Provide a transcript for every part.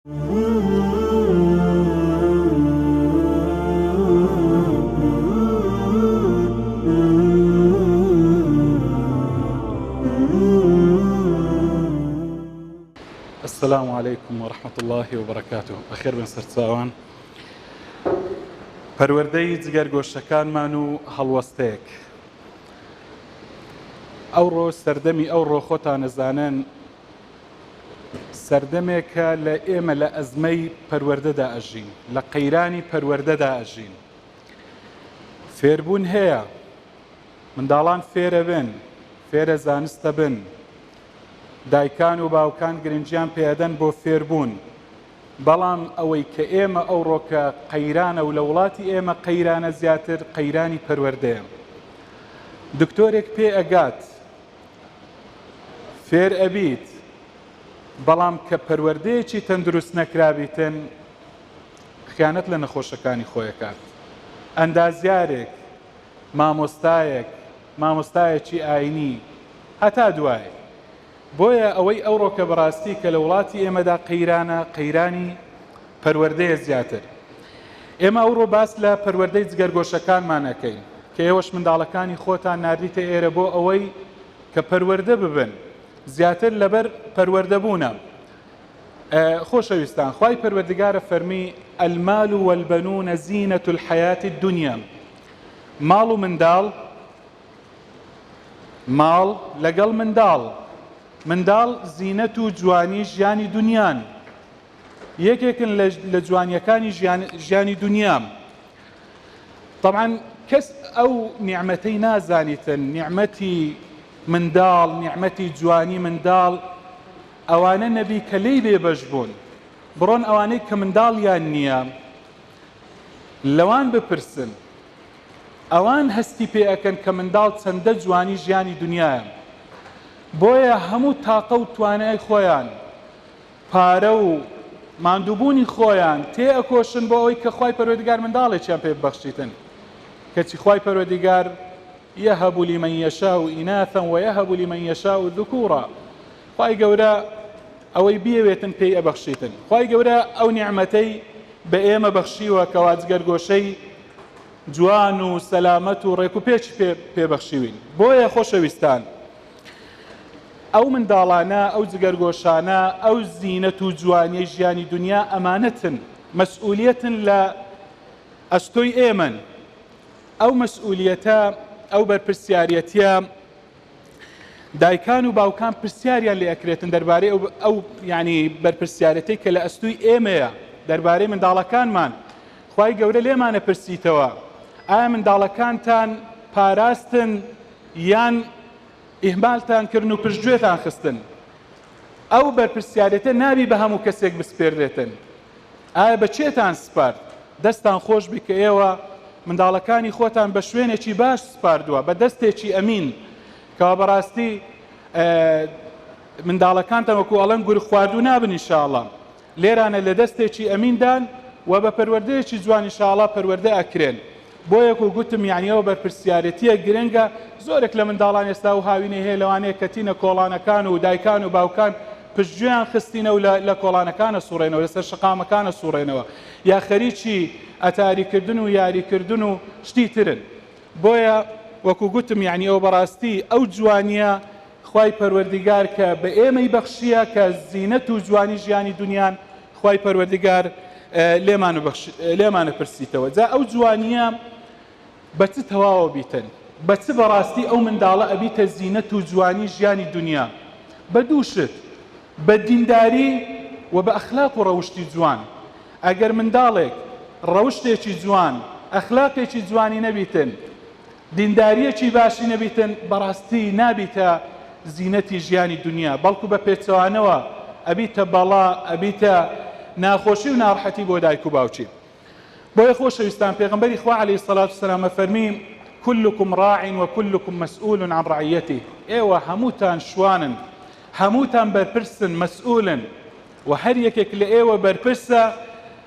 السلام علیکم و رحمت الله و برکاته بەخێر بن سەرچاوان پەروەردەی جگەرگۆشەکانمان و هەڵوەستەیەک ئەو ڕۆژ سەردەمی ئەو ڕۆخۆتانەزانن سەردەمێکە لە ئێمە لە ئەزمەی پەروەردەدا ئەژین، لە قەیرانی پەروەردەدا ئەژین. فێربوون هەیە، منداڵان فێرەبن، فێرە زانستەبن، دایکان و باوکان گرنگیان پێ ئەدەن بۆ فێربوون، بەڵام ئەوەی کە ئێمە ئەوڕۆ کە قەیرانە و لە وڵاتی ئێمە قەیرانە زیاتر قەیرانی پەروەردەیە. دکتۆرێک پێ ئەگات، فێر ئەبیت بەڵام کە پەروەردەیەکی تەندروست نەکرابیتن خیانەت لە نەخۆشەکانی خۆی ئەکات ئەندازیارێک مامۆستایەک مامۆستایەکی ئاینی هەتا دوایی بۆیە ئەوەی ئەوڕۆکە بەڕاستی کە لە وڵاتی ئێمەدا قەیرانە قەیرانی پەروەردەیە زیاتر. ئێمە ئەوڕۆ باس لە پەروەردەی جگەرگۆشەکانمان ئەکەین، کە ئێوەش منداڵەکانی خۆتان ناردیتە ئێرە بۆ ئەوەی کە پەروەردە ببن، زیاتر لەبەر پەروەردە بوونە. خۆشەویستان، خوای پەروەردگارە فەرمی، المال والبنون زینە الحیاة الدنیا، ماڵ و منداڵ، ماڵ لەگەڵ منداڵ، منداڵ زینەت و جوانی ژیانی دونیان، یەکێکن لە لە جوانیەکانی ژیان ژیانی دنیام طبعا کەس ئەو نیعمەتەی نازانیتن نیعمەتی منداڵ نیعمەتی جوانی منداڵ ئەوانە نەبی کە لێی بێبەش بوون بڕۆن ئەوانەی کە منداڵیان نییە لەوان بپرسن ئەوان هەستی پێ ئەکەن کە منداڵ چەندە جوانی ژیانی دنیاە بۆیە هەموو تاقە و توانای خۆیان پارە و ماندووبوونی خۆیان تێ ئەکۆشن بۆ ئەوەی کە خوای پەروەردیگار منداڵێکیان پێ ببەخشیتن کەچی خوای پەروەردیگار یەهەب لمن یشاء اناثا ویهب لمن یشاء ذکورا خوای گەورە ئەوەی بیەوێتن پێی ئەبەخشیتن خوای گەورە ئەو نیعمەتەی بە ئێمە بەخشیوە کەوا جگەرگۆشەی جوان و سەلامەت و ڕێک و پێچ پێ پێبەخشیوین بۆیە خۆشەویستان ئەو منداڵانە، ئەو جگەرگۆشانە، ئەو زینەت و جوانیەی ژیانی دونیا ئەمانەتن، مەسئولیەتن لە ئەستۆی ئێمەن، ئەو مەسئولیەتە، ئەو بەرپرسیاریەتیە دایکان و باوکان پرسیاریان لێ ئەکرێتن دەربارەی ئەو ئەو یانی بەرپرسیارەتەی کە لە ئەستوی ئێمەیە دەربارەی منداڵەکانمان، خوای گەورە لێمانە پرسیتەوە، ئایا منداڵەکانتان پاراستن یان ئیهمالتان کردن و پشت گوێتان خستن، ئەو بەرپرسیارێتە نابی بە هەموو کەسێک بسپێردرێتن، ئایا بە کێتان سپارد؟ دەستان خۆش بی کە ئێوە منداڵەکانی خۆتان بە شوێنێکی باش سپاردوە، بە دەستێکی ئەمین، کەوا بە راستی منداڵەکانتان وەکو ئەڵێن گورگ خواردوو نابن ان شاءاللە. لێرانە لە دەستێکی ئەمین دان و بە پەروەردەیەکی جوان ان شاء اللە پەروەردە ئەکرێن بۆیە کو گوتم یانی ئەوە بەرپرسیارێتیە گرنگە زۆرێک لە منداڵان ئێستا ئەو هاوینەی هەیە لەوانەیە کەتینە کۆڵانەکان و دایکان و باوکان پشتگوێیان خستینە و لە لە کۆڵانەکان ئەسوڕێنەوە لەسەر شەقامەکان ئەسوڕێنەوە یا خەریکی ئەتاری کردن و یاری کردن و شتی ترن بۆیە وەکو گوتم یانی ئەوە بەڕاستی ئەو جوانیە خوای پەروەردیگار کە بە ئێمەی بەخشییە کە زینەت و جوانی ژیانی دونیان خوای پەروەردیگار لێمانە پرسیتەوە جا ئەو جوانییە بە چ تەواوە بیتن بە چ بەڕاستی ئەو منداڵە ئەبیتە زینەت و جوانی ژیانی دونیا بە دوو شت بە دینداری و بە ئەخلاق و ڕەوشتی جوان ئەگەر منداڵێک ڕەوشتێکی جوان ئەخلاقێکی جوانی نەبیتن دینداریەکی باشی نەبیتن بەڕاستی نابیتە زینەتی ژیانی دونیا بەڵکو بە پێچەوانەوە ئەبیتە بەڵا ئەبیتە ناخۆشی و ناڕحەتی بۆ دایک و باوکی بۆیە خۆشەویستان پێغەمبەری خوا علیە سڵات و سلام ئەفەرمی کلکم ڕاع و کلکم مسئول عن ڕعیەتی ئێوە هەمووتان شوانن هەمووتان بەرپرسن مسئولن و هەر یەکێک لە ئێوە بەرپرسە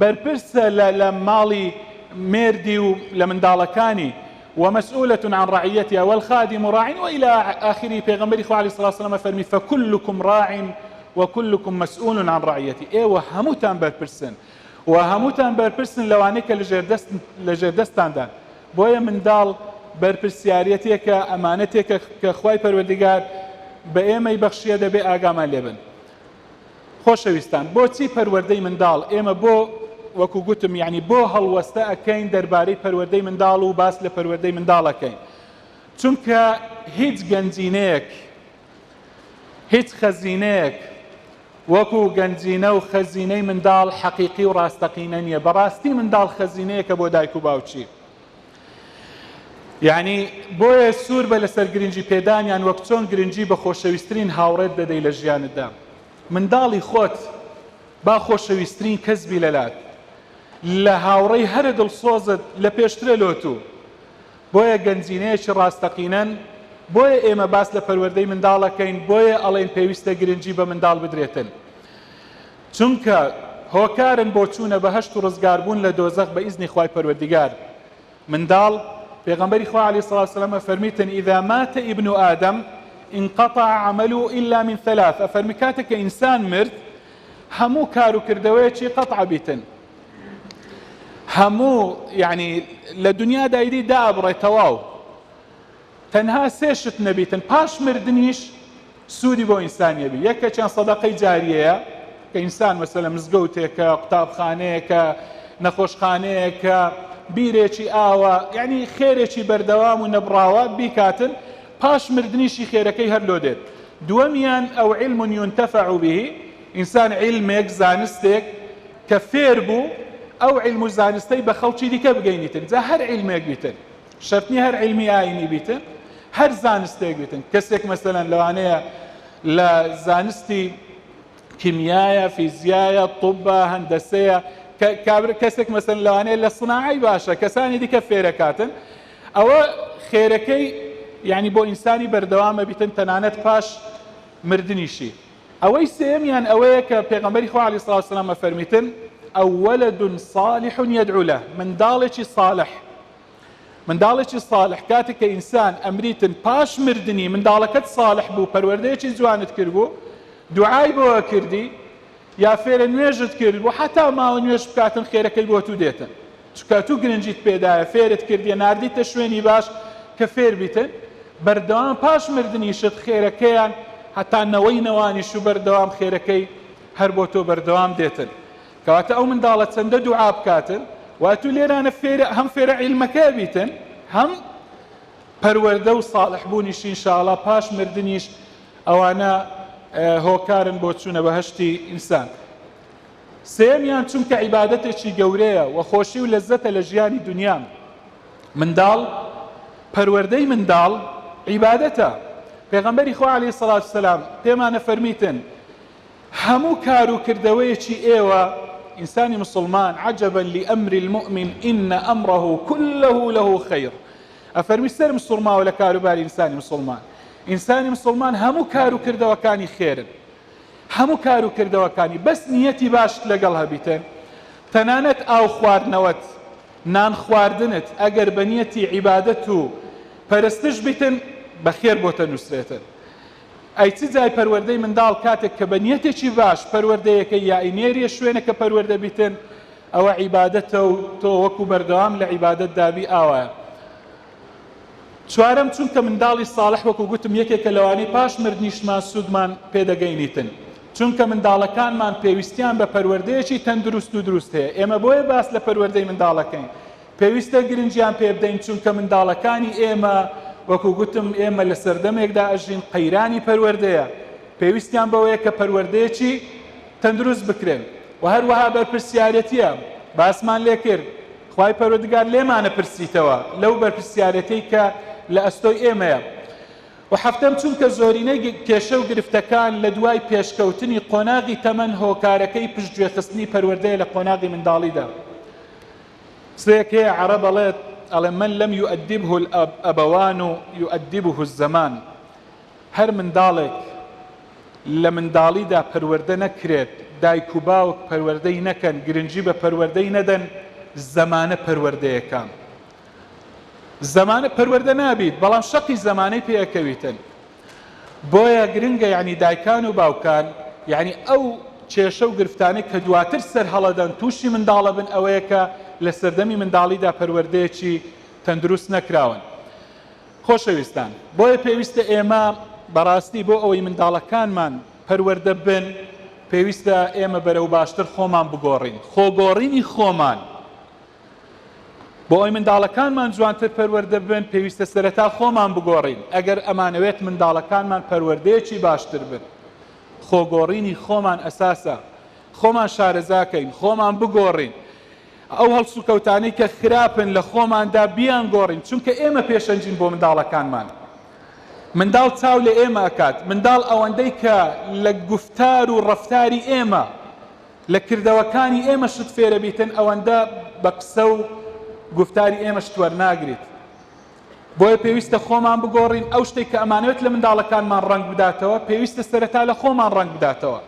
بەرپرسە لە لە ماڵی مێردی و لە منداڵەکانی، و مسئولە عن رعیتها، والخادم راع، و الی آخره، پێغەمبەری خوا علیە الصلوة والسلام فەرمی، فکلکم راع و کلکم مسئول عن رعیته، ئێوە هەمووتان بەرپرسن و هەمووتان بەرپرسن لەوانەی کە لە ژێر دەستتاندان، بۆیە منداڵ بەرپرسیارێتێکە، ئەمانەتێکە کە خوای پەروەردگار بە ئێمەی بەخشیە دەبێ ئاگامان لێ بن. خۆشەویستان بۆچی پەروەردەی منداڵ ئێمە بۆ وەکو گوتم یعنی بۆ هەڵوەستە ئەکەین دەربارەی پەروەردەی منداڵ و باس لە پەروەردەی منداڵەکەین چونکە هیچ گەنجینەیەک هیچ خەزینەیەک وەکو گەنجینە و خەزینەی منداڵ حەقیقی و ڕاستەقینە نییە بەڕاستی منداڵ خەزینەیەکە بۆ دایک و باوکی یانی بۆیە سوور بە لەسەر گرنگی پێدانیان وەک چۆن گرنگی بە خۆشەویسترین هاوڕێت دەدەی لە ژیانتدا منداڵی خۆت با خۆشەویسترین کەس بی لەلات لە هاوڕێی هەرە دڵسۆزت لە پێشترە لۆتو بۆیە گەنجینەیەکی ڕاستەقینەن بۆیە ئێمە باس لە پەروەردەی منداڵەکەین بۆیە ئەڵێن پێویستە گرنگی بە منداڵ بدرێتن چونکە هۆکارن بۆ چوونە بەهەشت و ڕزگاربوون لە دۆزەخ بە ئیزنی خوای پەروەردیگار منداڵ، پێغەمبەری خوا علیە الصلوة والسلام ئەفەرمیتن، اذا مات ابن آدم انقطع عمله الا من ثلاث، ئەفەرمی کاتێک کە ئینسان مرد هەموو کار و کردەوەیەکی قطع ئەبیتن هەموو یەعنی لە دنیادا ئیدی دائەبڕێ تەواو، تەنها سێ شت نەبیتن پاش مردنیش سوودی بۆ ئینسانی هەبی یەکێکیان سەدەقەی جاریەیە کە ئینسان مەسەلەن مزگەوتێکە قوتابخانەیەکە نەخۆشخانەیەکە بیرێکی ئاوە یعنی خێرێکی بەردەوام و نەبڕاوە بیکاتن پاش مردنیشی خێرەکەی هەر لۆ دێت دووەمیان ئەو علم ينتفع به ئینسان علمێک زانستێک کە فێر بوو ئەو علم و زانستەی بە خەڵکی دیکە بگەینیتن جا هەر علمێک بیتن شەرت نیە هەر عیلمی ئاینی بیتن هەر زانستێک بیتن کەسێک مەسەلەن لەوانەیە لە زانستی کیمیایە فیزیایە طبە هەندەسەیە کابر کەسێک مەسەن لەوانەیە لە سناعی باشە کەسانی دیکە فێرەکاتن ئەوە خێرەکەی یعنی بۆ ئینسانی بەردەوامە بیتن تەنانەت پاش مردنیشی ئەوەی سێمیان ئەوەیە کە پێغمبەری خوا علی سلاسلامە فەرمیتن ئەو وەلدون صالح یدعو له منداڵێکی صالح منداڵێکی ساڵح کاتێک کە ئینسان ئەمریتن پاش مردنی منداڵەکەت ساڵح بوو پەروەردەیەکی جوانت کرد بوو دوعای بۆە کردی یا فێرە نوێژت کرد بوو حتا ماوە نوێژ بکاتن خێرەکەی بۆ تو دێتن چکە تو گرنجیت پێدایە فێرت کردی نردیتە شوێنی باش کە فێر بیتن بەردەوام پاش مردنیشت خێرەکەیان هەتا نەوەی نەوانیش و بەردەوام خێرەکەی هەر بۆ تۆ بەردەوام دێتن کەواتە ئەو منداڵە چەندە دوعا بکاتن وای تو لێرانە فێرە هەم فێرە عیلمەکە بیتن هەم پەروەردە و ساڵح بوونیش انشاءاللە پاش مردنیش ئەوانە هۆکارن بۆ چوونە بەهشتی ئینسان سێمیان چونکە عیبادەتێکی گەورەیە و خۆشی و لەزەتە لە ژیانی دنیا منداڵ پەروەردەی منداڵ عیبادەتە پێغەمبەری خوا عليه سڵات سلام پێمانە فەرمیتن هەموو کار و کردەوەیەکی ئێوە، ئینسانی موسڵمان، عجبا لامر المومن ان امره کله له خیر، ئەفەرمی سەرم سوڕماوە لە کاروباری ئینسانی موسڵمان، ئینسانی موسڵمان هەموو کار و کردەوەکانی خێرن، هەموو کار و کردەوەکانی، بەس نیەتی باشت لەگەڵ هەبیتە، تەنانەت ئاو خواردنەوەت، نان خواردنت، ئەگەر بە نیەتی عیبادەت و پەرستش بیتن، بە خێر بۆتە نووسرێتن. ئەی چ جای پەروەردەی منداڵ کاتێک کە بە نیەتێکی باش پەروەردەیەکەی یائی نێریە شوێنەکە پەروەردە بیتن ئەوە عیبادەتە و تۆ وەکو بەردەوام لە عیبادەت دابی ئاوایە چوارەم چونکە منداڵی ساڵح وەکو گوتم یەکێکە لەوانەی پاش مردنیشمان سوودمان پێدەگەینیتن چونکە منداڵەکانمان پێویستیان بە پەروەردەیەکی تەندروست و دروست هەیە ئێمە بۆیە باس لە پەروەردەی منداڵەکەین پێویستە گرنگیان پێ بدەین، چونکە منداڵەکانی ئێمە، وەکو گوتم ئێمە لە سەردەمێکدا ئەژین قەیرانی پەروەردەیە، پێویستیان بەوەیە کە پەروەردەیەکی تەندروست بکرێن و هەروەها بەرپرسیارێتییە باسمان لێ کرد، خوای پەروەدگار لێمانە پرسیتەوە لەو بەرپرسیارێتیەی کە لە ئەستۆی ئێمەیە. و حەفتەم، چونکە زۆرینەی کێشە و گرفتەکان لە دوای پێشکەوتنی قۆناغی تەمەن هۆکارەکەی پشتگوێخستنی پەروەردەیە لە قۆناغی منداڵیدا. قسەیەک هەیە عەڕەب ئەڵێت ئەڵێ من لم یؤدبه الابوان یؤدبه الزمان هەر منداڵێک لە منداڵیدا پەروەردە نەکرێت دایک و باوک پەروەردەی نەکەن گرنگی بە پەروەردەی نەدەن زەمانە پەروەردەیەکە زەمانە پەروەردە نابیت بەڵام شەقی زەمانەی پێ ئەکەویتن بۆیە گرنگە یعنی دایکان و باوکان یعنی ئەو کێشە و گرفتانەی کە دواتر سەر هەڵەدەن تووشی منداڵە بن ئەوەیە کە لە سەردەمی منداڵیدا پەروەردەیەکی تەندروست نەکراون خۆشەویستان بۆیە پێویستە ئێمە بەڕاستی بۆ ئەوەی منداڵەکانمان پەروەردە بن پێویستە ئێمە بەرەو باشتر خۆمان بگۆڕین خۆگۆڕینی خۆمان بۆ ئەوەی منداڵەکانمان جوانتر پەروەردە ببن، پێویستە سەرەتا خۆمان بگۆڕین، ئەگەر ئەمانەوێت منداڵەکانمان پەروەردەیەکی باشتر بن، خۆگۆڕینی خۆمان ئەساسە، خۆمان شارەزاکەین، خۆمان بگۆڕین، ئەو هەڵسوکەوتانەی کە خراپن لە خۆماندا بیانگۆڕین، چونکە ئێمە پێشەنگین بۆ منداڵەکانمان، منداڵ چاو لە ئێمە ئەکات، منداڵ ئەوەندەی کە لە گوفتار و ڕەفتاری ئێمە لە کردەوەکانی ئێمە شت فێرە بیتن ئەوەندە بە قسە و گوفتاری ئێمە شت وەرناگریت بۆیە پێویستە خۆمان بگۆڕین ئەو شتێک کە ئەمانەوێت لە منداڵەکانمان ڕەنگ بداتەوە پێویستە سەرەتا لە خۆمان ڕەنگ بداتەوە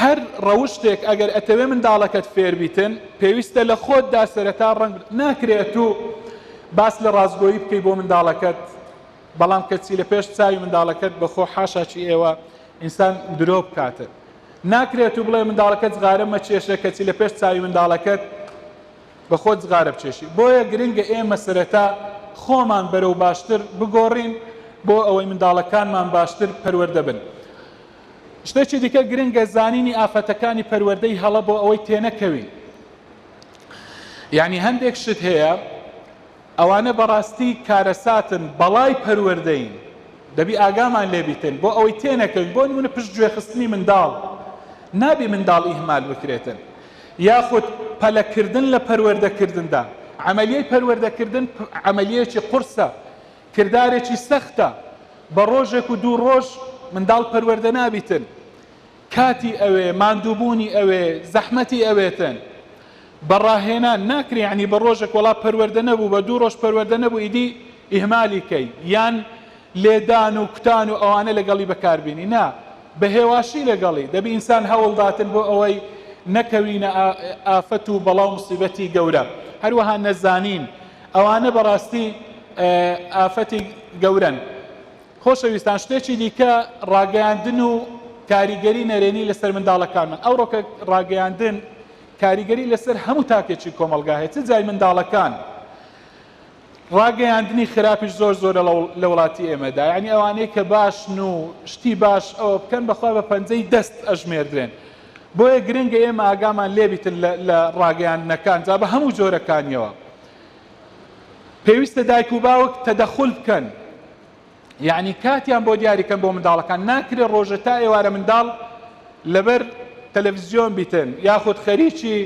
هەر ڕەوشتێک ئەگەر ئەتەوێ منداڵەکەت فێر بیتن پێویستە لە خۆتدا سەرەتا ڕەنگ ناکرێت و باس لە ڕاستگۆیی بکەی بۆ منداڵەکەت بەڵام کەچی لە پێش چاوی منداڵەکەت بەخۆ حاشاچی ئێوە ئینسان درۆ بکاتن ناکرێت و بڵێ منداڵەکەت جغارە مەکێشە کەچی لە پێش چاوی منداڵەکەت بە خۆت جغارە بکێشی بۆیە گرنگە ئێمە سەرەتا خۆمان بەرەو باشتر بگۆڕین بۆ ئەوەی منداڵەکانمان باشتر پەروەردە بن شتێکی دیکە گرنگە زانینی ئافەتەکانی پەروەردەی هەڵە بۆ ئەوەی تێنەکەوین یعنی هەندێک شت هەیە ئەوانە بەڕاستی کارەساتن بەڵای پەروەردەین دەبی ئاگامان لێبیتن بۆ ئەوەی تێنەکەوین بۆ نمونە پشت گوێ خستنی منداڵ نابی منداڵ ئیهمال بکرێتن یاخود پەلەکردن لە پەروەردەکردندا عملیەی پەروەردەکردن عملیەکی قورسە کردارێکی سەختە بە ڕۆژێک و دوو ڕۆژ منداڵ پەروەردە نابیتن کاتی ئەوێ ماندووبوونی ئەوێ زەحمەتی ئەوێتن بە ڕاهێنان ناکرێ یانی بە ڕۆژێک وەڵا پەروەردە نەبوو بە دوو ڕۆژ پەروەردە نەبوو ئیدی ئیهمالی کەی یان لێدان و کوتان و ئەوانە لەگەڵی بەکاربینی نا بە هێواشی لەگەڵی دەبی ئینسان هەوڵداتن بۆ ئەوەی نەکەوینە ئافەت و بەڵا و مسیبەتی گەورە هەروەها نەزانین ئەوانە بەڕاستی ئافەتی گەورەن خۆشەویستان شتێکی دیکە ڕاگەیاندن و کاریگەری نەرێنی لەسەر منداڵەکانمان، ئەوڕۆکە ڕاگەیاندن کاریگەری لەسەر هەموو تاکێکی کۆمەڵگا هەیە چ جای منداڵەکان ڕاگەیاندنی خراپیش زۆر زۆرە لە وڵاتی ئێمەدا یعنی ئەوانەی کە باشن و شتی باش ئەوە بکەن بەخوا بە پەنجەی دەست ئەژمێردرێن بۆیە گرنگە ئێمە ئاگامان لێبیتن لە ڕاگەیاندنەکان جا بە هەموو جۆرەکانیەوە پێویستە دایک و باوک تەدەخول بکەن یعنی کاتیان بۆ دیاری کەن بۆ منداڵەکان ناکرێت ڕۆژە تا ئێوارە منداڵ لەبەر تەلەڤزیۆن بیتن یاخود خەریکی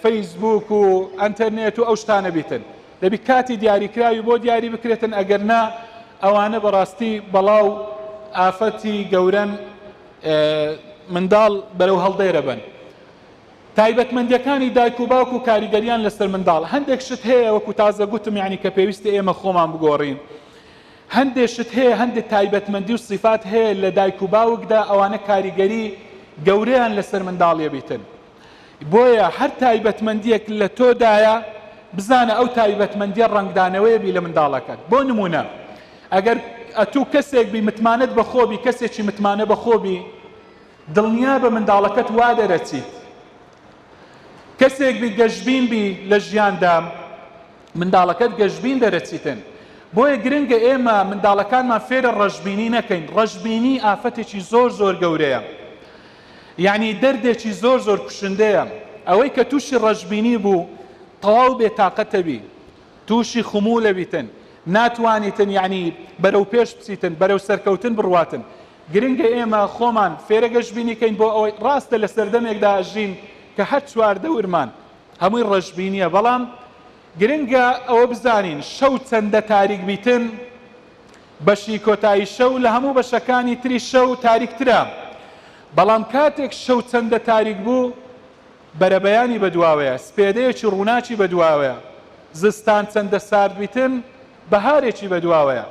فەیسبوک و ئەتەرنێت و ئەو شتانە بیتن دەبی کاتی دیاریکراوی بۆ دیاری بکرێتن ئەگەر نا ئەوانە بەڕاستی بەڵاو ئافەتی گەورەن منداڵ بەرەو هەڵدێرە بن تایبەتمەندیەکانی دایک و باوک و کاریگەریان لەسەر منداڵ هەندێک شت هەیە وەکو تازە گوتم یانی کە پێویستە ئێمە خۆمان بگۆڕین هەندێک شت هەیە هەندێک تایبەتمەندی و صفات هەیە لە دایک و باوکدا ئەوانە کاریگەری گەورەیان لەسەر منداڵیە بیتن بۆیە هەر تایبەتمەندیەک لە تۆدایە بزانە ئەو تایبەتمەندیە ڕنگدانەوەیە بی لە منداڵەکەت بۆ نمونە ئەگەر ئەتوو کەسێک بی متمانەت بەخۆبی کەسێکی متمانە بەخۆبی دڵنیابە منداڵەکەت وا دەرەچیت کەسێک بی گەشبین بی لە ژیاندا منداڵەکەت گەشبین دەرەچیتن بۆیە گرنگە ئێمە منداڵەکانمان فێرە ڕەشبینی نەکەین ڕەشبینی ئافەتێکی زۆر زۆر گەورەیە یعنی دەردێکی زۆر زۆر کوشندەیە ئەوەی کە تووشی ڕەشبینی بوو تەواو بێ تااقەتەبی تووشی خموو لەویتن ناتوانیتن یعنی بەرەو پێش بچیتن بەرەو سەرکەوتن بڕواتن گرنگە ئێمە خۆمان فێرە گەشبینی کەین بۆ ئەوەی، ڕاستە لە سەردەمێکدا ئەژین کە هەر چواردەورمان هەمووی ڕەشبینییە، بەڵام گرنگە ئەوە بزانین شەو چەندە تاریک بیتن، بەشی کۆتایی شەو لە هەموو بەشەکانی تری شەو تاریکترە، بەڵام کاتێک شەو چەندە تاریک بوو، بەرەبەیانی بەدواوەیە، سپێدەیەکی ڕووناکی بەدواوەیە، زستان چەندە سارد بیتن، بەهارێکی بەدواوەیە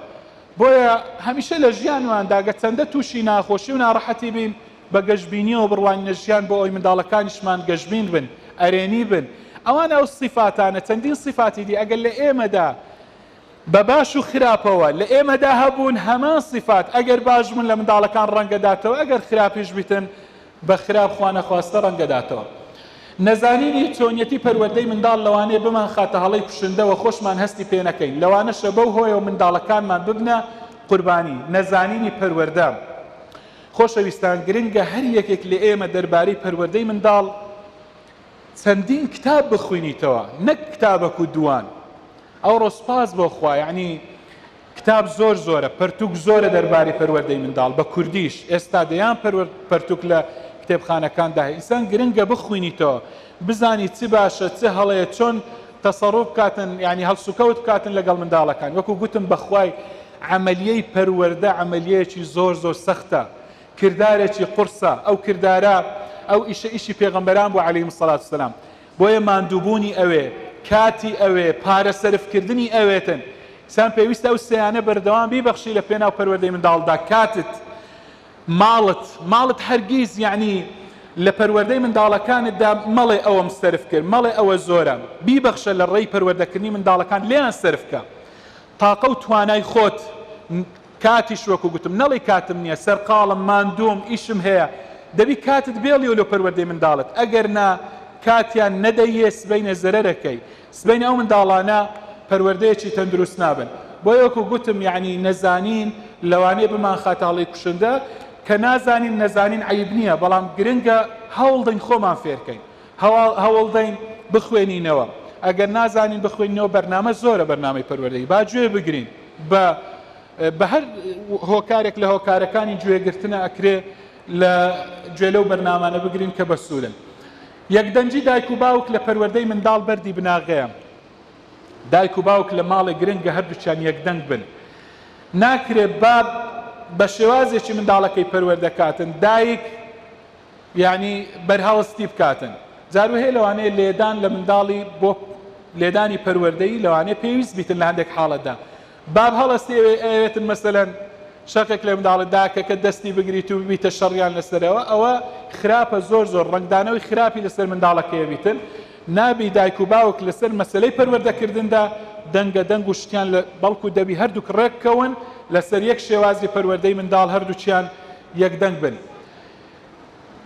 بۆیە هەمیشە لە ژیانماندا گەچەندە تووشی ناخۆشی و ناڕەحەتی بین بە گەشبینیەوە بڕوانینە ژیان بۆ ئەوەی منداڵەکانیشمان گەشبین بن ئەرێنی بن ئەوانە ئەو سیفاتانە چەندین سیفاتی دی ئەگەر لە ئێمەدا بە باش و خراپەوە لە ئێمەدا هەبوون هەمان سیفات ئەگەر باش بوون لە منداڵەکان ڕەنگەداتەوە ئەگەر خراپیش بیتن بە خراپ خوانەخواستە ڕەنگدەداتەوە. نەزانینی چۆنیەتی پەروەردەی منداڵ لەوانەیە بمانخاتە هەڵەی کوشندە و خۆشمان هەستی پێنەکەین، لەوانەشە بەو هۆیەوە منداڵەکانمان ببنە قوربانی نەزانینی پەروەردە. خۆشەویستان گرنگە هەر یەکێک لە ئێمە دەربارەی پەروەردەی منداڵ چەندین کتاب بخوینیتەوە نەک کتابەک و دووان. ئەوڕۆ سوپاس بۆ خوا یانی کتاب زۆر زۆرە پەرتوک زۆرە دەرباری پەروەردەی منداڵ بە کوردیش ئێستا دەیان پەروەر پەرتوک لە کتێبخانەکاندا هەیە ئینسان گرنگە بخوینیتەوە بزانی چ باشە چ هەڵەیە چۆن تەسەڕوف بکاتن یانی هەڵسوکەوت بکاتن لەگەڵ منداڵەکان وەکو گوتم بەخوای عەمەلیەی پەروەردە عەمەلیەیەکی زۆر زۆر سەختە کردارێکی قورسە ئەو کردارە ئەو ئیشە ئیشی پێغەمبەران بوو علیهم الصلوة والسلام بۆیە ماندووبوونی ئەوێ، کاتی ئەوێ، پارە سەرفکردنی ئەوێتن. دیسان پێویستە ئەو سێیانە بەردەوام بیبەخشی لە پێناو پەروەردەی منداڵدا، کاتت، ماڵت، ماڵت هەرگیز یەعنی لە پەروەردەی منداڵەکانتدا مەڵێ ئەوەم سەرف کرد، مەڵێ ئەوە زۆرە، بیبەخشە لە ڕێی پەروەردەکردنی منداڵەکانت لێیان سەرف بکە. تاقە و توانای خۆت، کاتیش وەکو گوتم نەڵێی کاتم نیە سەرقاڵم ماندووم ئیشم هەیە دەبی کاتت بێڵیۆ لۆ پەروەردەی منداڵت ئەگەر نا کاتیان نەدەییێ سبەینێ زەرەرەکەی سبەینێ ئەو منداڵانە پەروەردەیەکی تەندروست نابن بۆیە وەکو گوتم یەعنی نەزانین لەوانەیە بمانخاتە هەڵەی کوشندە کە نازانین نەزانین عەیب نیە بەڵام گرنگە هەوڵدەین خۆمان فێرکەین هەوڵدەین بخوێنینەوە ئەگەر نازانین بخوێنینەوە بەرنامە زۆرە بەرنامەی پەروەردەی با گوێ بگرین بە بە هەر هۆکارێک لە هۆکارەکانی گوێگرتنە ئەکرێ لە گوێ لەو بەرنامانە بگرین کە بە سوورن یەکدەنگی دایک و باوک لە پەروەردەی منداڵ بەردی بناغەیە دایک و باوک لە ماڵێک گرنگە هەردووچان یەکدەنگ بن ناکرێت باب بە شێوازێکی منداڵەکەی پەروەردەکاتن دایک یانی بەرهەڵست تی بکاتن جارو هەیە لەوانەیە لێدان لە منداڵی بۆ لێدانی پەروەردەیی لەوانەیە پێویست بیتن لە هەندێک حاڵەتدا باب هەڵەستی ئەوێ ئەوێتن مەسەلەن شەقێک لە منداڵت داکەکە دەستی بگریت و ببیتە شەڕیان لەسەرەوە ئەوە خراپە زۆر زۆر ڕەنگدانەوەی خراپی لەسەر منداڵەکەیە بیتن نابی دایک و باوک لەسەر مەسەلەی پەروەردەکردندا دەنگە دەنگ و شتیان لە بەڵکو دەبی هەردووک ڕێک کەون لەسەر یەک شێوازی پەروەردەی منداڵ هەردووکیان یەک دەنگ بن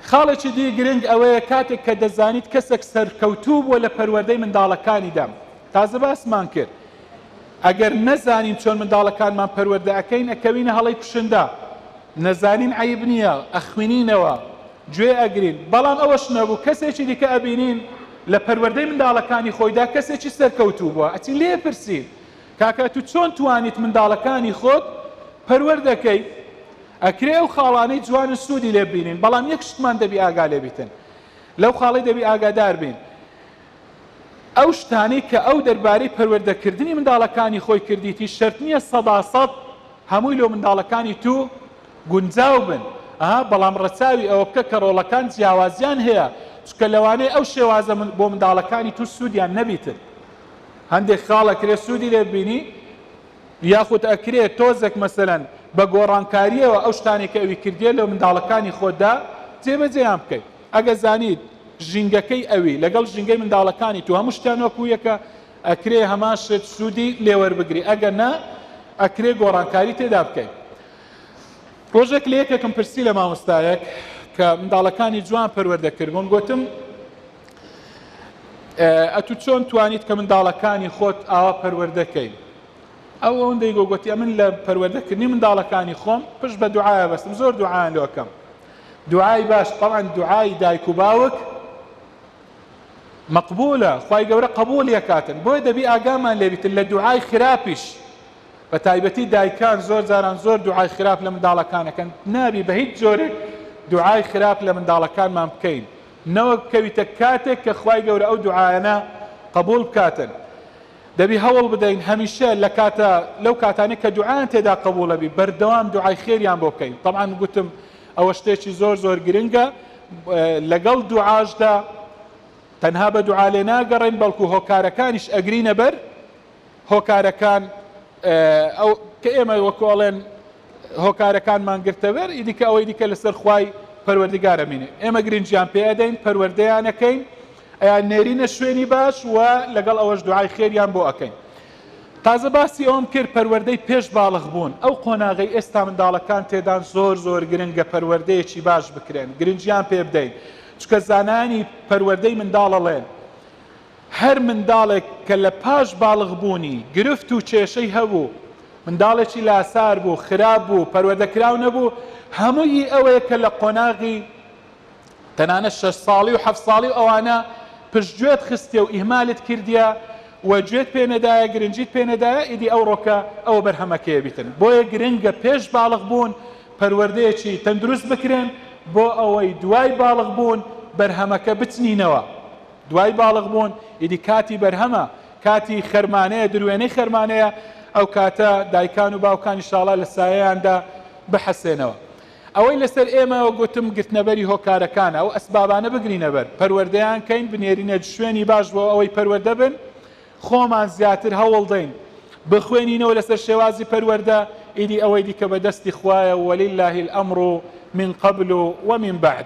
خاڵێکی دی گرنگ ئەوەیە کاتێک کە دەزانیت کەسێک سەرکەوتوو بووە لە پەروەردەی منداڵەکانیدا، تازە باسمان کرد ئەگەر نەزانین چۆن منداڵەکانمان پەروەردە ئەکەین ئەکەوینە هەڵەی کوشندە، نەزانین عەیب نییە ئەخوینینەوە، گوێ ئەگرین، بەڵام ئەوەش نەبوو کەسێکی دیکە ئەبینین لە پەروەردەی منداڵەکانی خۆیدا کەسێکی سەرکەوتوو بووە ئەچین لێ ئەپرسین، کاکە تو چۆن توانیت منداڵەکانی خۆت پەروەردە کەیت ئەکرێ ئەو خاڵانەی جوانن سودی لێ ببینین بەڵام یەک شتمان دەبی ئاگا لێ بیتن لەو خاڵەی دەبی ئاگادار بین ئەو شتانەی کە ئەو دەربارەی پەروەردەکردنی منداڵەکانی خۆی کردیتی شەرت نییە سەدا سەد هەمووی لۆ منداڵەکانی تو گونجاو بن ئەها بەڵام ڕەچاوی ئەوە بکە کە ڕۆڵەکان جیاوازیان هەیە چکە لەوانەیە ئەو شێوازە بۆ منداڵەکانی تو سوودیان نەبیتن هەندێک خاڵ ئەکرێ سوودی لێ ببینی یاخود ئەکرێ تۆزێک مەسەلەن بە گۆڕانکارییەوە ئەو شتانێک کە ئەوی کردیە لە منداڵەکانی خۆتدا جێبەجێیان بکەیت ئەگەر زانیت ژینگەکەی ئەوی لەگەڵ ژینگەی منداڵەکانی تو هەموو شتیان وەکو یەکە ئەکرێ هەمان شت سوودی لێوەربگری ئەگەر نا ئەکرێ گۆڕانکاری تێدا بکەیت ڕۆژێک لە یەکێکم پرسی لە مامۆستایەک کە منداڵەکانی جوان پەروەردە کردبوون گوتم ئەتو چۆن توانیت کە منداڵەکانی خۆت ئاوا پەروەردەکەی ئەو ئەوەندەی گۆگوتی ئەمن لە پەروەردەکردنی منداڵەکانی خۆم پشت بە دوعاە بەستم زۆر دوعاان لۆکەم دوعای باش طبعا دوعای دایک و باوک مەقبولە خی گەورە قبول یەکاتن بۆی دەبی ئاگامان لێبیتن لە دوعای خراپیش بە تایبەتی دایکان زۆر جاران زۆر دوعای خراپ لە منداڵەکانەکەن نابی بە هیچ جۆرێک دوعای خراپ لە منداڵەکانمان بکەین نەوەک بکەویتە کاتێک کە خوای گەورە ئەو دوعایانە قبوڵ بکاتن دەبی هەوڵ بدەین هەمیشە لە کاتە لەو کاتانەی کە دوعایان تێدا قبوڵە بی بەردەوام دوعای خێریان بۆ بکەین تەبعەن گوتم ئەوە شتێکی زۆر زۆر گرنگە لەگەڵ دوعاشدا تەنها بە دوعا لێ ناگەڕێن بەڵکو هۆکارەکانیش ئەگرینە بەر هۆکارەکان ئەو کە ئێمە وەکو ئەڵێن هۆکارەکانمان گرتەوێر ئیدیکە ئەوەی دیکە لەسەر خوای پەروەردگارە مینێ ئێمە گرنجیان پێ ئەدەین پەروەردەیانەکەین ئەیان نێرینە شوێنی باش و لەگەڵ ئەوەش دوعای خێریان بۆ ئەەکەین تازە باسی ئەوم کرد پەروەردەی پێش باڵغ بوون ئەو قۆناغی ئێستا منداڵەکان تێدان زۆر زۆر گرنگە پەروەردەیەکی باش بکرێن گرنجیان پێ بدەین چکە زانانی پەروەردەی منداڵەڵێن هەر منداڵێک کە لە پاش باڵغبوونی گرفت و کێشەی هەبوو، منداڵێکی لاسار بوو، خراپ بوو، پەروەدەکراو نەبوو، هەمووی ئەوەیە کە لە قۆناغی تەنانەت شەش ساڵی و حەفت ساڵی و ئەوانە پشتگوێت خستیە و ئیهمالت کردیە و گوێت پێ نەدایە، گرنگیت پێ نەدایە، ئیدی ئەوڕۆ کە ئەوە بەرهەمەکەیە بیتن. بۆیە گرنگە پێش باڵغبوون پەروەردەیەکی تەندروست بکرێن بۆ ئەوەی دوای باڵغبوون بەرهەمەکە بچنینەوە. دوای باڵغ بوون ئیدی کاتی بەرهەمە، کاتی خەرمانەیە، دروێنەی خەرمانەیە، ئەو کاتە دایکان و باوکان ئیشاڵا لە سایەیاندا بحەسێنەوە. ئەوەی لەسەر ئێمە وەک گوتم گرتنەبەری هۆکارەکانە، ئەو ئەسبابانە بگرینە بەر، پەروەردەیان کەین، بنێرینە شوێنی باش بۆ ئەوەی پەروەردە بن، خۆمان زیاتر هەوڵ دەین بخوێنینەوە لەسەر شێوازی پەروەردە، ئیدی ئەوەی دیکە بە دەستی خوایە وللە الامر من قبل ومن بعد.